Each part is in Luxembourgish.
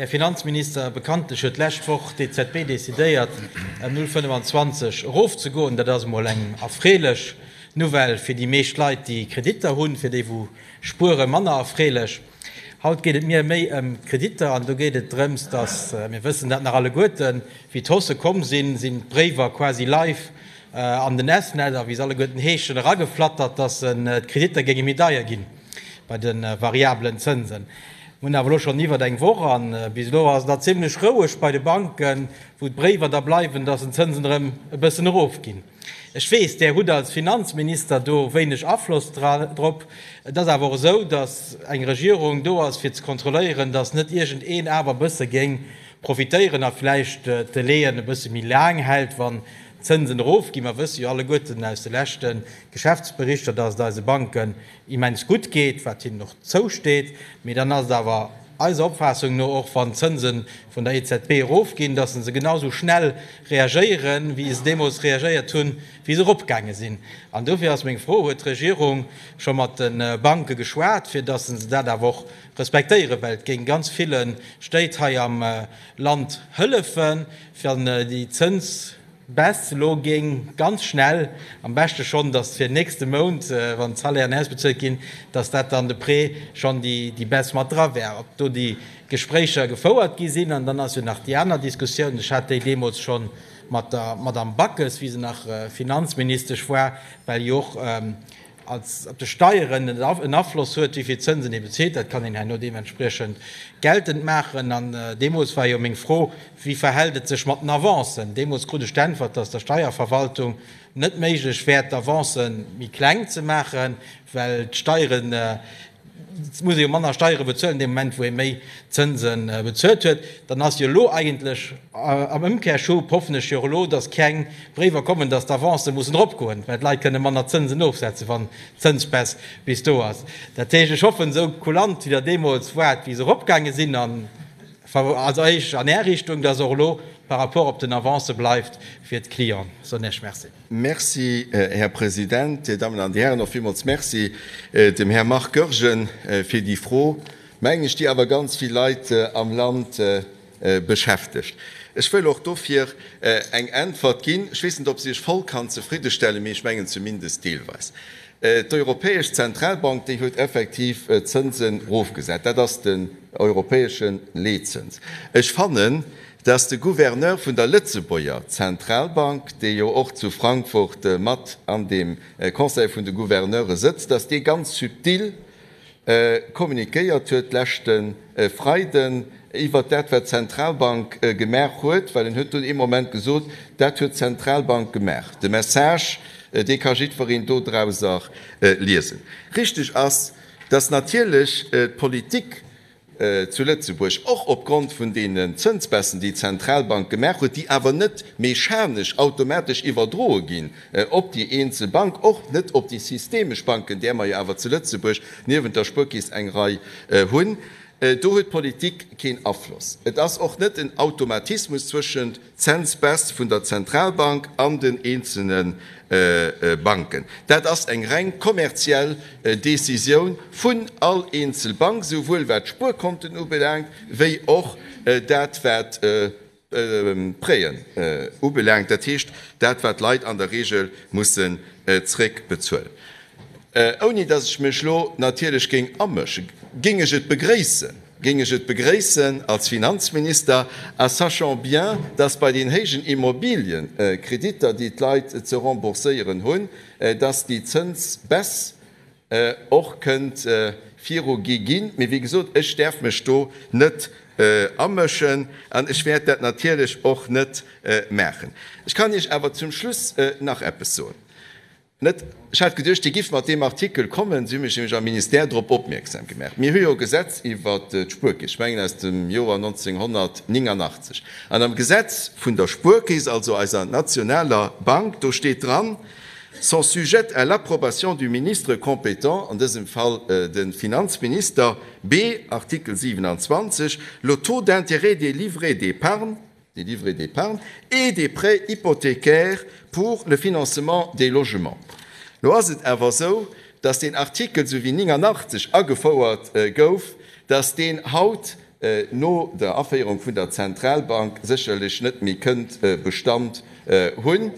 Här Finanzminister, bekanntlech huet d'lescht Woch d'EZB decidéiert, ëm 0,25 erofzegoen. Dat ass emol eng erfreelech Nouvelle fir déi meescht Leit, déi Kreditter hunn. Fir déi, wou spueren, manner erfreelech. Haut geet et mir méi ëm d'Kreditter an do geet et drëms, dass, mir wëssen dat nach alleguerten, wéi d'Hausse komm sinn, sinn d'Bréiwer quasi live an den S-Net a wéi se alleguerten heeschen, erageflattert, dass d'Kreditter géinge méi deier ginn. Bei de variablen Zënsen hu mer awer elo schonn iwwert eng Woch, a bis elo ass et nach zimmlech roueg bei de Banken, wou d'Bréiwer da bleiwen, datt den Zënsen erëm e bëssen erofginn. Ech weess, Där hutt als Finanzminister do wéineg Afloss drop. Et ass awer och esou, datt eng Regierung do ass, fir ze kontrolléieren, datt net iergendeen awer e bësse géing profitéieren a vläicht d'Delaien e bësse méi laang hält, wann D'Zënsen erof ginn, mer wësse jo alleguerten aus de leschte Geschäftsberichter, datt et eise Banken immens gutt geet, wat hinnen och zousteet. Mee dann ass et awer eiser Opfaassung no och, wann d'Zënse vun der EZB erof ginn, datt se genau esou schnell reagéieren, wéi se deemools reagéiert hunn, wéi se eropgaange sinn. An dofir ass meng Fro, Huet d'Regierung scho mat de Banke geschwat, fir datt se dat awer och respektéieren, well et géing ganz ville Stéit hei am Land hëllefen, Fir an déi Zënsbaisse elo géing ganz schnell, am beschte schonn, datt fir nächste Mount, wann d'Salairen ausbezuelt ginn, datt dat dann de Prêt schonn déi Baisse mat dra wär. Ob do déi Gespréicher gefouert gi sinn? An dann ass jo nach déi aner Diskussioun, ech hat déi deemools scho mat der Madamm Backes, wéi se nach Finanzministesch war, well jo och als op de Steieren en Afloss huet, wéi vill Zënsen ee bezilt. Dat kann een herno deementspriechend geltend maachen. An deemools war jo meng Fro, Wéi verhält et sech mat den Avancen? Deemools krut ech d'Äntwert, dass der Steierverwaltung net méiglech wär, d'Avancen méi kleng ze maachen, well d'Steieren, Et muss ee jo manner Steiere bezuelen dee Moment, wou ee méi Zënse bezuelt huet. Dann ass jo elo eigentlech am Ëmkehrschub, hoffen ech jo och elo, datt keng Bréiwer kommen, datt d'Avancë mussen eropgoen, well d'Leit kënne manner Zënsen ofsetzen, wann d'Zënsspäss bis do ass. Dat heescht, ech hoffen, esou kulant wéi Der deemools waart, wéi se eropgaange sinn, also eis an Är Richtung, datt se och elo par rapport op den Avancë bleift fir d'Clients'en. Ech soen Iech Merci. Merci, Här President. Dir Dammen an Dir Hären, och villmools Merci dem Här Marc Goergen fir déi Fro, mengen ech, déi awer ganz vill Leit am Land beschäftegt. Ech wëll och dofir eng Äntwert ginn. Ech weess net, ob se Iech voll kann zefriddestellen, mee ech mengen zumindest deelweis. D'Europäesch Zentralbank, déi huet effektiv d'Zënsen erofgesat. Dat ass den europäesche Leetzëns. Ech fannen, Dass de Gouverneur vun der Lëtzebuerger Zentralbank, dee jo och zu Frankfurt mat an deem Conseil vun de Gouverneure sëtzt, dass dee ganz subtil communiquéiert huet leschte Freiden iwwert dat, wat d'Zentralbank gemaach huet, well en huet dunn ee Moment gesot, Dat huet d'Zentralbank gemaach. De Message, dee ka jiddwereen dodrauser liesen. Richtig ass, dass natierlech d'Politik zu Lëtzebuerg, och opgrond vun deenen Zënsbaissen, déi d'Zentralbank gemaach huet, déi awer net mechanesch, automatesch iwwerdroe ginn op déi eenzel Bank, och net op déi systemesch Banken, där mer jo awer zu Lëtzebuerg niewent der Spuerkeess eng Rei hunn. Do huet d'Politik keen Afloss. Et ass och net en Automatismus zwëschent. Cents Baisse vun der Zentralbank an den eenzelne Banken. Dat ass eng reng kommerziell Decisioun vun all eenzel Bank, souwuel wat d'Spuerkonten ubelaangt, wéi och dat wat d'Prêten ubelaangt, dat heescht dat wat d'Leit an der Regel mussen zréckbezuelen. Ouni dass ech mech elo natierlech géing amëschen, géing ech et begréissen, géing ech et begréissen als Finanzminister, a sachant bien, dass bei den héijen Immobiliëkreditter, déi d'Leit ze rembourséieren hunn, dass déi Zënsbaisse och kënnt virugi ginn. Mee wéi gesot, ech däerf mech do net amëschen an ech wäert dat natierlech och net maachen. Ech kann Iech awer zum Schluss nach eppes soen. Net? Ech hat geduecht, Dir gifft mat deem Artikel kommen. Si hu mech nämlech am Ministère drop opmierksam gemaach. Mir hu jo e Gesetz iwwert d'Spuerkeess, ech mengen aus dem Joer 1989. An am Gesetz vun der Spuerkeess, also eiser nationaler Bank, do steet dran, sont sujettes à l'approbation du ministre compétent, an dësem Fall de Finanzminister, bee, Artikel 27, le taux d'intérêt des livrets d'épargne, des livrets d'épargne et des prêts hypothécaires pour le financement des logements. Lo ass et awer esou, dass deen Artikel, esou wéi 89 agefouert gouf, dass deen haut no der Aféierung vun der Zentralbank sécherlech net méi kënnt Bestand hunn.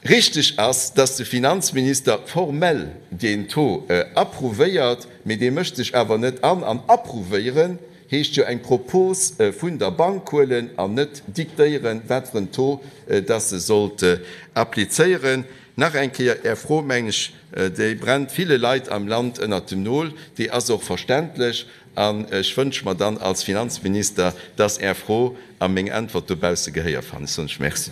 Richteg ass, dass de Finanzminister formell deen Taux approuvéiert, mee dee mécht sech awer net an. An approuvéieren heescht jo eng Propos vun der Bank huelen an net diktéieren, wat fir en Taux dass se sollt applizéieren. Nach eng Kéier, Är Fro, mengen ech, déi brennt ville Leit am Land ënnert dem Nol. Déi ass och verständlech an ech wënsche mer dann als Finanzminister, dass Är Fro a meng Äntwert dobausse Gehéier fannen. Ech soen lech Merci.